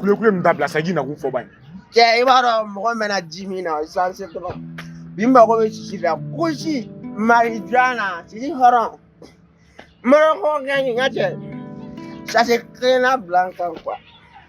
kule kule min dabila sa k'i nakun fɔ ban cɛ i b'a dɔn mɔgɔ mɛna ji min na sisan se tɔgɔ bi mago bɛ sisi la kusi marijuana sisi hɔrɔn moroko kɛ nin ka cɛ sase kelenna bila n kan kuwa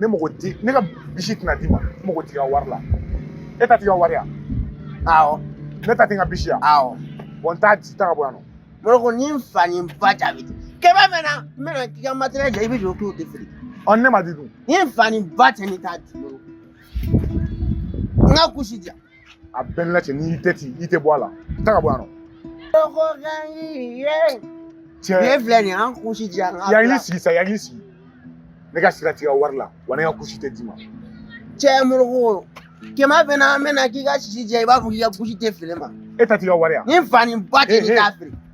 ne mago t'i ne ka bisi tɛna d'i ma n mago t'i ka wari la e ta t'i ka wari yan awɔ ne ta tɛ n ka bisi yan awɔ bon n t'a di taa ka bɔ yan nɔ moroko ni n fa ni n ba jaabi tɛ kɛmɛ mɛn na n bɛna k'i ka matɛrɛli jɛ i b'i jɔ k'o tɛ feere ɔ ne m'a di dun ni n fa ni n ba tɛ ne t'a di moroko n ka kusi di yan a bɛɛ la cɛ n'i tɛ ten i tɛ bɔ a la taa ka bɔ yan nɔ. moroko ka ɲi ye. cɛ tile filɛ nin ye an kusi di yan. a y'i sigi sa a y'i sigi ne ka sira t'i ka wari la wa ne ka kusi tɛ d'i ma. cɛ moroko kɛmɛ bɛ na an bɛ na k'i ka sisi jɛ i b'a fɔ k'i ka kusi tɛ feere ma. e ta t'i ka wari yan. ni fa ni ba tɛ k'i k'a feere.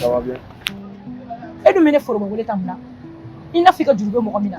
Ça va bien. Et nous menons forum wele tamla. Il n'a fait que du mɔgɔ min na.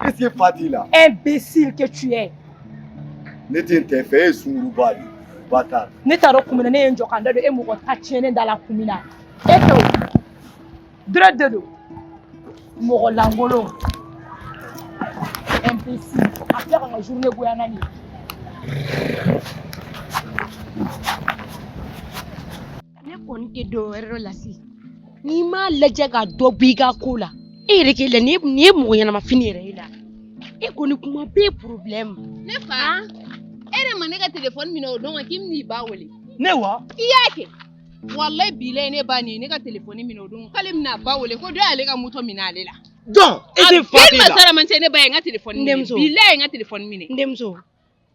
Qu'est-ce que Fa dit là Imbécile que tu es. Ne tɛ n t'e fɛ e ye sunguruba de ye bâtard. Ne t'a dɔn kun min na ne ye n jɔ ka n da don e mɔgɔ ta tiɲɛnen da la kun min na e tɛ o dɔrɔn de don mɔgɔ lankolon imbécile a filɛ ka n ka journée goya n na nin ye. ne kɔni tɛ dɔ wɛrɛ dɔn la si n'i m'a lajɛ ka dɔ b'i ka ko la e yɛrɛ k'i la nin ye mɔgɔ ɲɛnama fini yɛrɛ ye la e kɔni kuma bɛɛ problème ne fa e de ma ne ka telefɔni minɛ o don k'i bɛn'i ba wele ne wa i y'a kɛ walayi bilayi ne ba nin ye ne ka telefɔni minɛ o don k'ale bɛn'a ba wele ko dɔ y'ale ka moto minɛ ale la donc e tɛ fa tɛ la a bɛɛ ma sara man cɛ ne ba ye n ka telefɔni minɛ bilayi n ka telefɔni minɛ n denmuso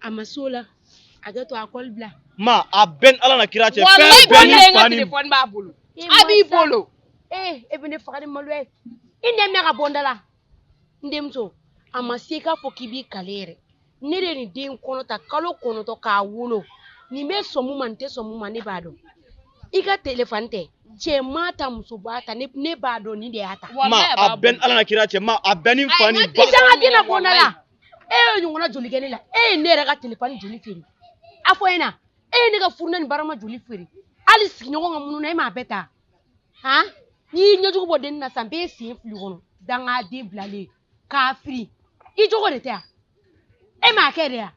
a ma s'o la a ka to a kɔli bila ma a bɛn ala n'a kira cɛ wallahi bilahi n ka telefɔni b'a bolo Eh, a b'i bolo ee e bɛ ne faga ni malo ye i den minɛ ka bɔ n da la n denmuso a ma se k'a fɔ k'i b'i kale yɛrɛ ne de ye nin den kɔnɔ ta kalo kɔnɔntɔn k'a wolo nin bɛ sɔn mun ma nin tɛ sɔn mun ma ne b'a dɔn i ka telefɔni tɛ cɛ m'a ta muso m'a ta ne ne b'a dɔn nin de y'a ta ma a bɛn ala n'a kira cɛ ma a bɛn ni fa ni ba i sanga tɛna bɔ n da la e ye ɲɔgɔnna joli kɛ ne la e ye ne yɛrɛ ka telefɔni joli feere a fɔ n ɲɛ na e ye ne ka furunɛ ni barama joli feere hali sigiɲɔgɔn ka mununan e m'a bɛɛ ta han n'i y'i ɲɛjugu bɔ dennin na san bɛɛ sen fili kɔnɔ dangaden bilalen k'a firi i jogo de tɛ yan e m'a kɛ de yan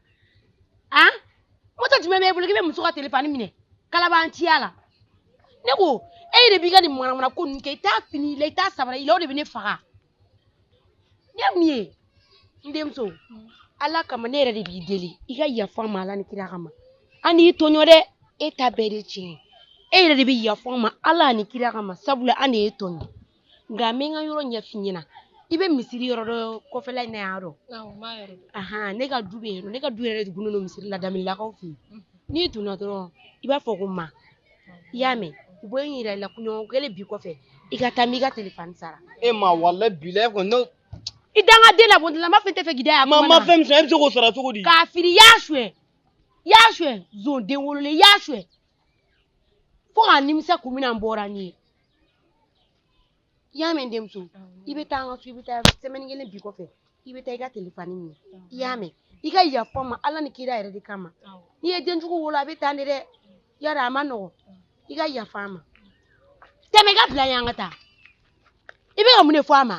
han moto jumɛn b'e bolo k'i bɛ muso ka telefɔni minɛ kalabanciya la ne ko e de b'i ka nin manamana ko ninnu kɛ i t'a fini i la i t'a sabara i la o de bɛ ne faga ne mun ye n denmuso ala kama ne yɛrɛ de b'i deli i ka yafa n ma ala ni kira kama an y'i tɔɲɔ dɛ e ta bɛɛ de tiɲɛ e yɛrɛ de bɛ yafa n ma ala ni kira kama sabula an de y'i tɔɲɔ nka n bɛ n ka yɔrɔ ɲɛf'i ɲɛna i bɛ misiri yɔrɔ dɔ kɔfɛla in na yan dɔn ahan ne ka du bɛ yen ne ka du yɛrɛ de gunnen don misiri la damilakaw fɛ yen n'i donna dɔrɔn i b'a fɔ ko ma i y'a mɛn u bɛ n yira i la kunɲɔgɔn kelen bi kɔfɛ i ka taa n b'i ka telefɔni sara e ma walayi bilayi kɔni i dangaden la bɔntila ma fɛn t'e fɛ k'i da yan ma ma fɛn min sɔrɔ e bɛ se k'o sara cogo di k'a fili y'a suɲɛ y'a suɲɛ zon den wololen y'a suɲɛ fo ka nimisa kun min na n bɔra n'i ye i y'a mɛn denmuso i bɛ taa an ka so i bɛ taa sɛmɛni kelen bi kɔfɛ i bɛ taa i ka telefɔni minɛ i y'a mɛn i ka yafa n ma ala ni kira yɛrɛ de kama n'i ye denjugu wolo a bɛ taa ne dɛ yara a man nɔgɔ i ka yafa n ma tɛmɛ i ka bila yan ka taa i bɛ ka mun de fɔ a ma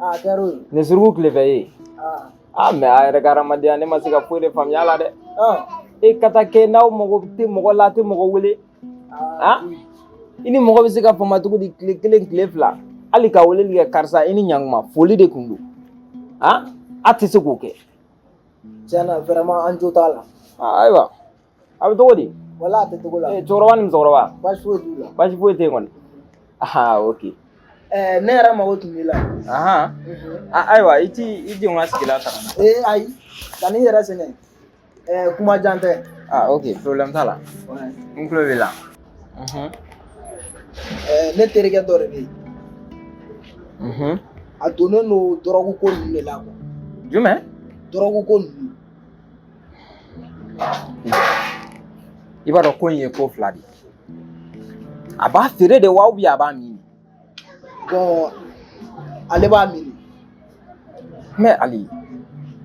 Aa a kɛra o ye. Nin suruku tile fɛ ye. Aa. Aa mais a yɛrɛ ka hadamadenya ne ma se ka foyi de faamuya a la dɛ. Ɔn. E ka taa kɛ n'aw mago tɛ mɔgɔ la a tɛ mɔgɔ wele. Aa. I ni mɔgɔ bɛ se ka fama cogo di tile kelen tile fila hali ka weleli kɛ karisa i ni ɲankuma foli de tun don. Aa a tɛ se k'o kɛ. Tiɲɛna vraiment an jo t'a la. Aa ayiwa. a bɛ cogo di wala a tɛ cogo la ee cɛkɔrɔba ni musokɔrɔba baasi foyi t'u la baasi foyi tɛ yen kɔni aa ok ɛɛ ne yɛrɛ mago tun b'i la ahan a- ayiwa i t'i jɔ n ka sigilan ta ka na ee ayi kan'i yɛrɛ sɛgɛn ɛɛ kuma jan tɛ aa ok problème t'a la n tulo b'i la Mhm, ɛɛ ne terikɛ dɔ de bɛ yen mhm. a donnen don dɔrɔgu ko ninnu de la quoi jumɛn dɔrɔgu ko ninnu i b'a dɔn ko in ye ko fila de ye a b'a feere de wa ou bien a b'a min bon ale b'a min mais ali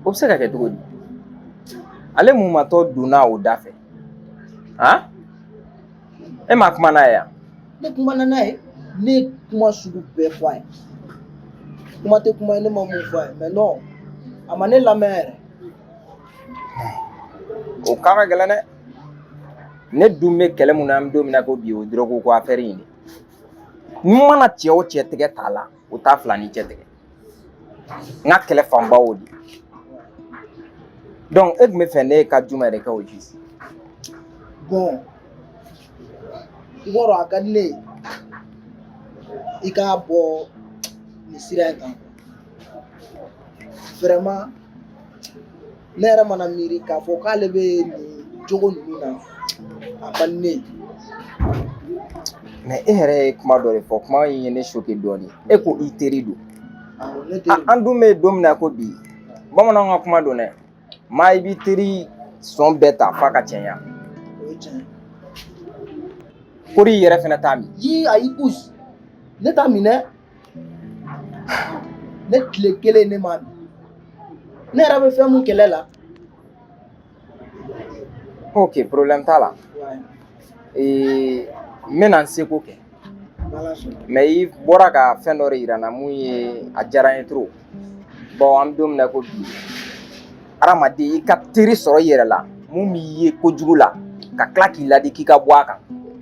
o bɛ se ka kɛ cogo di ale mun matɔ donna o da fɛ han e ma kuma n'a ye yan ne kumana n'a ye ne ye kuma sugu bɛɛ fɔ a ye kuma tɛ kuma ye ne ma mun fɔ a ye mais non a ma ne lamɛn yɛrɛ o kan ka gɛlɛn dɛ ne dun bɛ kɛlɛ mun na an bɛ don min na ko bi o dɔrɔgu ko afɛri in de n'u mana cɛ o cɛ tigɛ t'a la o t'a fila ni cɛ tigɛ n ka kɛlɛ fanba o de donc e tun b'a fɛ ne ka jumɛn de kɛ o ji bon i b'a dɔn a ka di ne ye i k'a bɔ nin sira in kan vraiment ne yɛrɛ mana miiri k'a fɔ k'ale bɛ nin jogo ninnu na a man di ne ye mais e yɛrɛ ye kuma dɔ de fɔ kuma in ye ne choqué dɔɔnin e ko i teri don Awɔ, ne teri an dun bɛ don min na ko bi bamananw ka kuma don dɛ maa i b'i teri sɔn bɛɛ ta f'a ka cɛɲa o ye tiɲɛ kori i yɛrɛ fɛnɛ t'a min ye ayi us ne t'a min dɛ ne tile kelen ne m'a min ne yɛrɛ bɛ fɛn mun kɛlɛ la ok problème t'a la ee n bɛna n seko kɛ mais i bɔra ka fɛn dɔ de yira n na mun ye a diyara n ye trop bon an bɛ don min na ko bi hadamaden i ka teri sɔrɔ i yɛrɛ la mun b'i ye kojugu la ka tila k'i ladi k'i ka bɔ a kan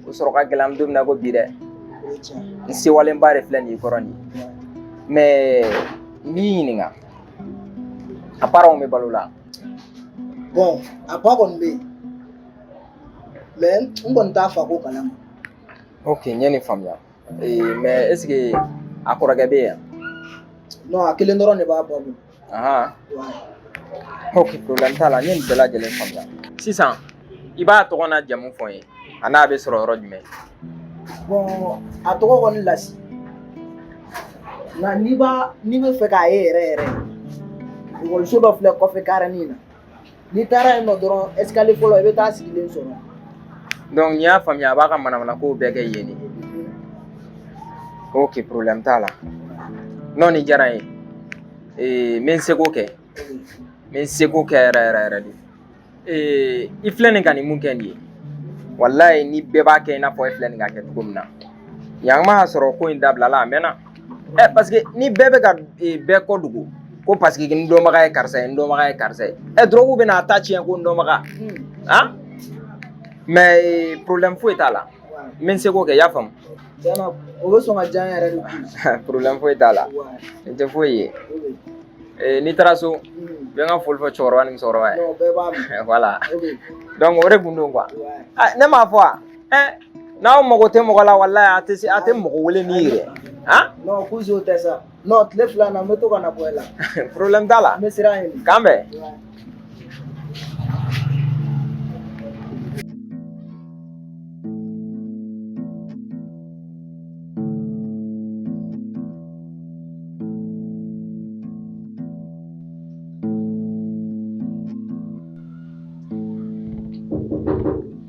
o sɔrɔ ka gɛlɛn an bɛ don min na ko bi dɛ n sewalenba de filɛ nin i kɔrɔ nin ye mais n b'i ɲininka a parents bɛ balo la bon a ba kɔni bɛ yen mais n kɔni t'a fa ko kalama ok n ye nin faamuya Ee mais est-ce que a kɔrɔkɛ bɛ yan non a kelen dɔrɔn de b'a ba bolo ahan ok problème t'a la n ye nin bɛɛ lajɛlen faamuya sisan i b'a tɔgɔ n'a jamu fɔ n ye a n'a bɛ sɔrɔ yɔrɔ jumɛn bon a tɔgɔ kɔni Lasi nka n'i b'a n'i bɛ fɛ k'a ye yɛrɛ yɛrɛ ekɔliso dɔ filɛ kɔfɛ karini na n'i taara yen nɔ dɔrɔn escalier fɔlɔ i bɛ taa sigilen sɔrɔ donc n'i y'a faamuya a b'a ka manamana kow bɛɛ kɛ yen de ok problème t'a la non nin diyara n ye ee n bɛ n seko kɛ n bɛ n seko kɛ yɛrɛ yɛrɛ yɛrɛ de ee i filɛ nin ka nin mun kɛ nin ye walayi ni bɛɛ b'a kɛ i n'a fɔ e filɛ nin ka kɛ cogo min na yan ma sɔrɔ ko in dabilala a mɛnna ɛ parce que ni bɛɛ bɛ ka bɛɛ ko dogo ko parce que n dɔnbaga ye karisa ye n dɔnbaga ye karisa ye ɛ dɔrɔgu bɛn'a ta tiɲɛ ko n dɔnbaga han mais problème foyi t'a la n bɛ n seko kɛ i y'a faamu tiɲɛna o bɛ sɔn ka diya n yɛrɛ de koyi problème foyi t'a la nin tɛ foyi ye Eh, n'i taara so i bɛ n ka foli fɔ cɛkɔrɔba ni musokɔrɔba ye Non, bɛɛ b'a mɛn voilà Ok. donc o de kun don quoi Ouais. Ah, ne m'a fɔ wa n'aw mago tɛ mɔgɔ la walayi a tɛ mɔgɔ wele ni yɛrɛ han non ko zo tɛ sa non tile fila na n bɛ to ka na bɔ e la problème t'a la n bɛ sira ɲini k'an bɛn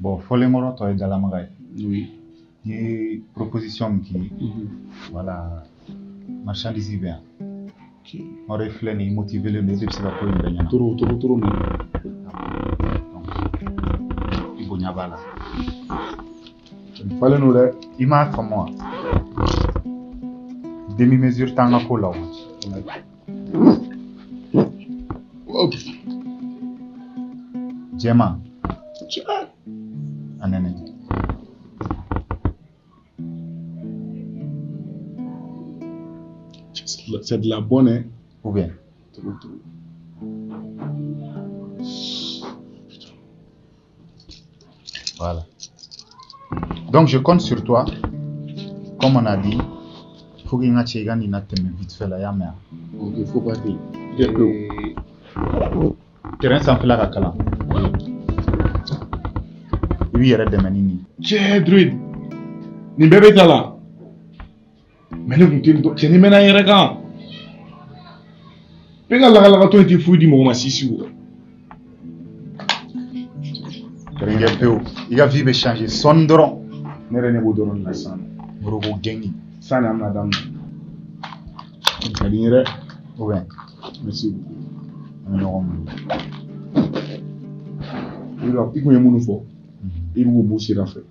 bɔn fɔlenkɔrɔ tɔ ye dalamaga ye n ye proposition min k'i voilà marchandise bɛ yan ɔrɔ i filɛ nin motivelen don i bɛ se ka ko in bɛɛ ɲɛna trop trop trop min i bonya b'a la falen don dɛ i m'a faamu wa demi mesure t'an ka ko la o Jɛma a nɛnɛ c'est de la bonne hein? ou bien Voilà. Donc je compte sur toi. Comme on a dit, fo i k'a cɛ i ka nin latɛmɛ vite fait là, y'a mɛn. Il faut pas dire. Terrain san fila ka kalan. I b'i yɛrɛ dɛmɛ ni nin ye. Cɛ Druid, nin bɛɛ bɛ ta la. mais ne kun tɛ dɔn cɛ ni mɛnna n yɛrɛ kan bɛɛ ka lagalagatɔ in tɛ foyi di mɔgɔ ma sisi o kɛrɛnkɛ pewu i ka vie bɛ changer sɔɔni dɔrɔn ne yɛrɛ ne b'o dɔrɔn de la sisan moroko gɛngi san de an bɛna daminɛ ka di n ye dɛ ou bien merci an bɛ ɲɔgɔn minɛ i kun ye minnu fɔ i b'u b'u sira fɛ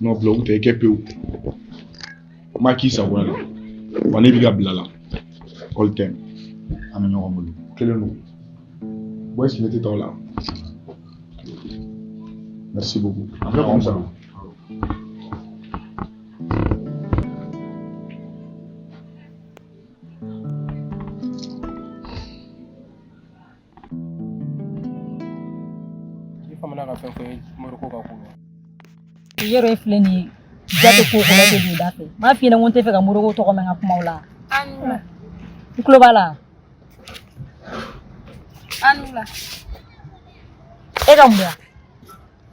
n'o bila u tɛ kɛ pewu ma k'i sagoya la wa ne b'i ka bila la all time an bɛ ɲɔgɔn bolo kelen don bɔ sigi tɛ tɔw la merci beaucoup an bɛ ɲɔgɔn sɔrɔ I famana ka fɛn fɔ ye moroko ka ko la Yero e filɛ nin ye ja tɛ ko kɔnɔ tɛ don da fɛ n m'a f'i ɲɛna ko n tɛ fɛ ka moroko tɔgɔ mɛn n ka kumaw la i tulo b'a la e ka mun ya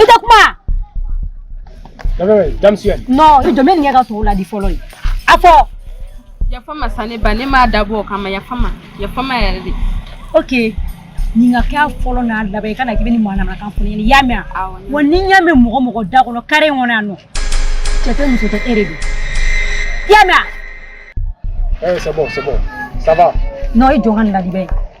I tɛ kuma i jɔ n bɛ nin kɛ ka tɔw ladi fɔlɔ ye a fɔ yafa ma sa ne ba ne m'a dabɔ o kama yafa ma yafa ma yɛrɛ de ok nin ka kɛ fɔlɔ n'a laban i kana k'i bɛ nin manamanakan fɔ ne ɲɛna i y'a mɛn wa ni n y'a mɛn mɔgɔ mɔgɔ da kɔnɔ kare in kɔnɔ yan nɔ cɛ tɛ muso tɛ e de don i y'a mɛn a eh, c'est bon c'est bon ça va non i jɔ ka nin ladi bɛ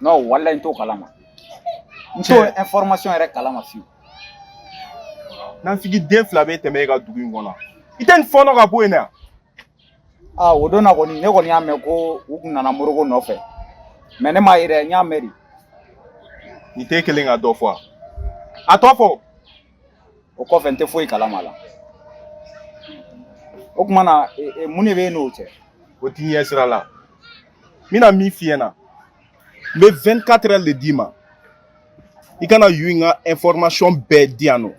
non walayi n t'o kalama n t'o information yɛrɛ kalama fiyewu nafigi den fila bɛ tɛmɛ e ka dugu in kɔnɔ i tɛ nin fɔɔnɔ ka bɔ yen na aa o don na kɔni ne kɔni y'a mɛn ko u tun nana moroko nɔfɛ mais ne m'a ye dɛ n y'a mɛn de nin tɛ kelen ka dɔ fɔ a a tɔ fɔ o kɔfɛ n tɛ foyi kalama a la o tuma na e, e, mun de bɛ e n'o cɛ o t'i ɲɛ sira la n bɛna min f'i ɲɛna n bɛ 24 heures de d'i ma i ka na yu in ka information bɛɛ di yan nɔ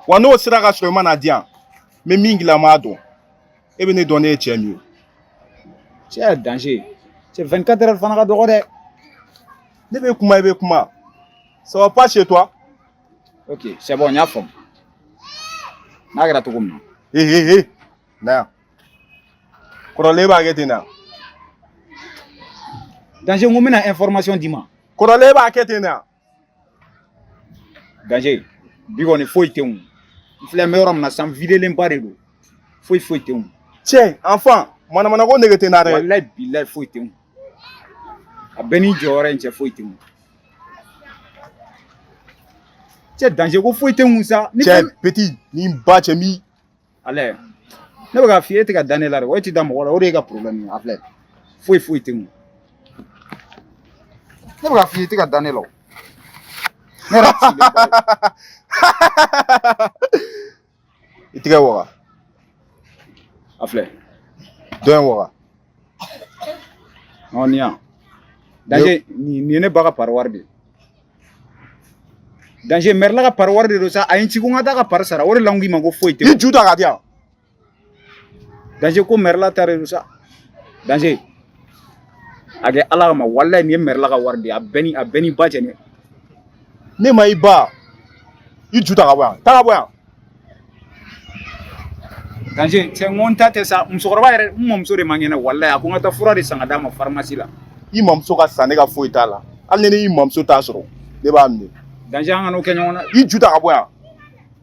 wa n'o sera ka sɔrɔ i ma n'a di yan n bɛ min k'i la n b'a dɔn e bɛ ne dɔn ne ye cɛ min ye cɛ danger cɛ 24 heures fana ka dɔgɔ dɛ ne bɛ kuma i bɛ kuma ça va pas chez toi ok c'est bon n y'a faamu n'a kɛra cogo min na ee ee ee na yan kɔrɔlen b'a kɛ ten na danger n ko n bɛna information d'i ma kɔrɔlen b'a kɛ ten na danger bi kɔni foyi tɛ n n filɛ n bɛ yɔrɔ min na san videlenba de don foyi foyi tɛ n cɛ enfant manamana ko nege tɛ n na dɛ walayi bilayi foyi tɛ n a bɛ n ni jɔyɔrɔ in cɛ foyi tɛ n cɛ danger ko foyi tɛ n kun sa. cɛ petit ni n ba cɛ n b'i. allez ne bɛ k'a f'i ye e tɛ ka da ne la dɛ o e tɛ da mɔgɔ la o de y'i ka problème ye a filɛ foyi foyi tɛ n kun ne bɛ k'a f'i ye e tɛ ka da ne la o. ne yɛrɛ sigilen ba ye. i tigɛ waga a filɛ dɔ in waga ɔ nin yan danger nin ye ne ba ka pari wari de ye danger mɛrila ka pari wari de don sa a ye n ci ko n ka taa a ka pari sara o de la n k'i ma ko foyi tɛ i ju ta ka di yan danger ko mɛrila ta de don sa danger a kɛ ala kama walayi nin ye mɛrila ka wari de ye a bɛ n ni n ba cɛ ne ne ma i ba i ju ta ka bɔ yan ta ka bɔ yan danger cɛ n ko n ta tɛ sa musokɔrɔba yɛrɛ n mɔmuso de man kɛnɛ walayi a ko n ka taa fura de san ka d'a ma pharmacie la i mamuso ka sa ne ka foyi t'a la hali ni ne y'i mamuso ta sɔrɔ ne b'a minɛ danger an kan'o kɛ ɲɔgɔn na i ju ta ka bɔ yan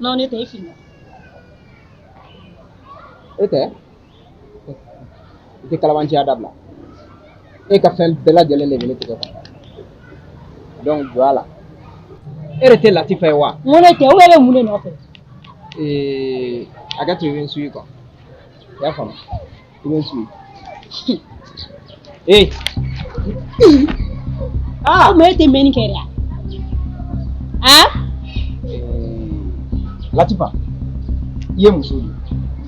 Non, ne tɛ e filila. E tɛ i tɛ kalabanciya dabila e ka fɛn bɛɛ lajɛlen de bɛ ne tigɛ kɔnɔ donc jɔ a la e de tɛ latifa ye wa N ko ne tɛ, ou bien e bɛ mun de nɔfɛ? ee a ka to i bɛ n suivre quoi i y'a faamu Ee. Ah, mais i tɛ mɛnni kɛ dɛ. Ah? Latifa, i ye muso de ye.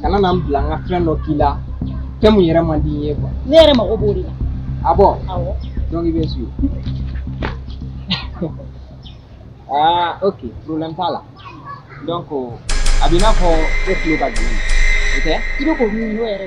Kana na n bila n ka fɛn dɔ k'i la, fɛn min yɛrɛ man di n ye quoi. Ne yɛrɛ mago b'o de la. Ah bon? Awɔ. Donc i b'a sɔrɔ. Ah ok, problème t'a la. donc a b'i n'a fɔ e tulo ka gɛlɛn o tɛ i bɛ k'o min n'o yɛrɛ